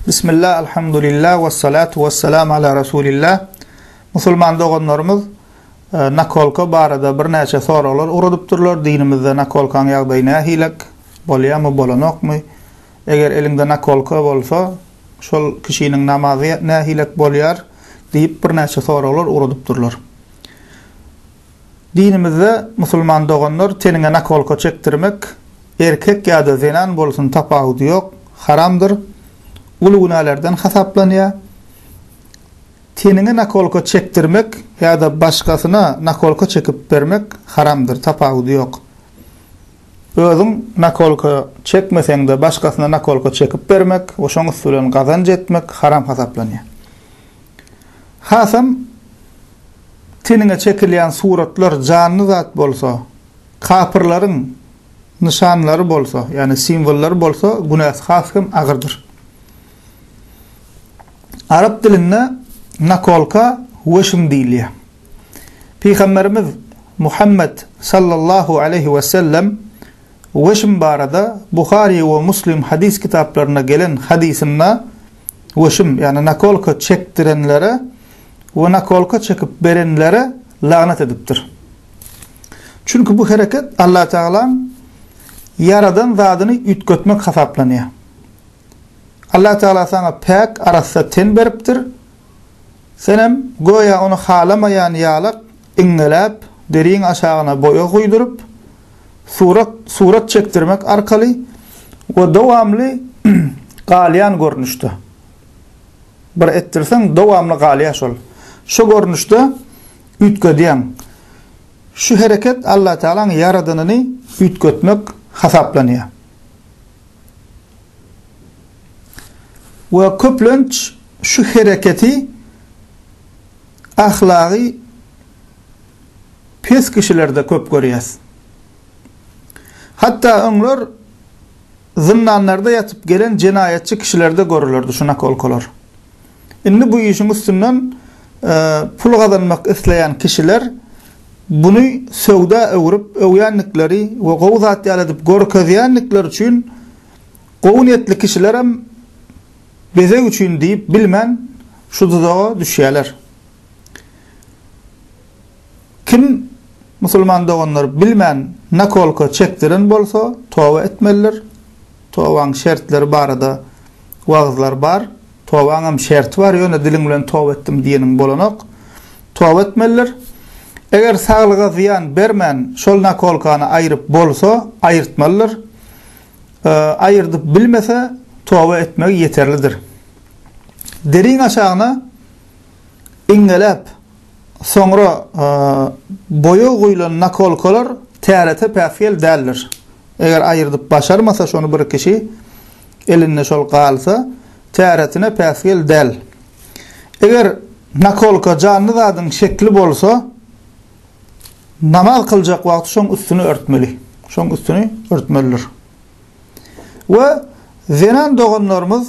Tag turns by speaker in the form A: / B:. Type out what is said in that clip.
A: Bismillah, alhamdulillah, ve salatu ve selam ala Rasulillah. Musulman doganlarymyz e, nakolka barada bir neçe soraglar uradypdyrlar. Dinimizde nakolkaň ýagdaýy nähilek? Bolýamy, bolanokmy? Eger elinde nakolka bolsa, şol kişiniň namazy nähilek bolýar? diýip bir neçe soraglar uradypdyrlar. Dinimizde musulman doganlar teniňe nakolka çekdirmek, erkek ýa-da zenan bolsun tapawudy ýok, haramdyr, uly günälerden hasaplanýar. Teniňe nakolka çekdirmek ýa-da başgasyna nakolka çekip bermek haramdyr, tapawudy ýok. Özüň nakolka çekmeseň-de başgasyna nakolka çekip bermek we şoň üsti bilen gazanç etmek haram hasaplanýar. Hasam. Teniňe çekilýän suratlar janly zat bolsa, kapyrlaryň nyşanlary bolsa, ýagny simwollary bolsa, günäsi has hem agyrdyr. Arap dilinde nakolka weşm diýilýär. Pygamberimiz Muhammet sallallahu aleýhi we sellem weşm barada Buhary we Muslim hadys kitaplarynda gelen hadysynda weşm, ýagny nakolka çekdirenlere we nakolka çekip berenlere lagnat edipdir. Çünki bu hereket Allatagalaň ýaradan zadyny üýtgetmek hasaplanýar. Allatagala saňa päk, arassa ten beripdir, senem göýä ony halamaýan ýalak iňňeläp, deriň aşagyna boýag guýduryp, surat surat çekdirmek arkaly we dowamly galýan görnüşde. Bir etdirseň dowamly galýa şol. Şu görnüşde üýtgedýäň. Şu hereket Alla Tagalaň ýaradanyny üýtgetmek hasaplanýa. We köplenç şu hereketi ahlagy pes kişilerde köp görýäs. Hatda öňler zyndanlarda ýatyp gelen jenaýatçy kişilerde görülerdi şu nakolkalar. Indi bu işiň üstünden pul gazanmak isleýän kişiler buny söwda öwrüp öwýändikleri we gowy zat ýaly edip görkezýändikleri üçin gowy niýetli kişilerem bezeg üçin diýip bilmän şu duzaga düşýärler. Kim musulman doganlar bilmän nakolka çekdiren bolsa toba etmelidir. Tobaň şertleri barada wagyzlar bar. Tobaňam şerti bar ýöne diliň bilen toba etdim diýeniň bolanok. Toba etmelidir. Eger saglyga zyýan bermän şol nakolkany aýryp bolsa aýyrtmalydyr. Aýyrdyp bilmese toba etmegi ýeterlidir. Deriň aşagyna. iňňeläp, soňra boýag guýlan nakolkalar tärete päsgel däldir. Eger aýyrdyp başarmasa şony bir kişi, elinde şol galsa, täretine päsgel däl. Eger nakolka janly zadyň şekli bolsa, namaz kyljak wagty şoň üstüni örtmeli. Şoň üstüni örtmelidir. We zenan doganlarymyz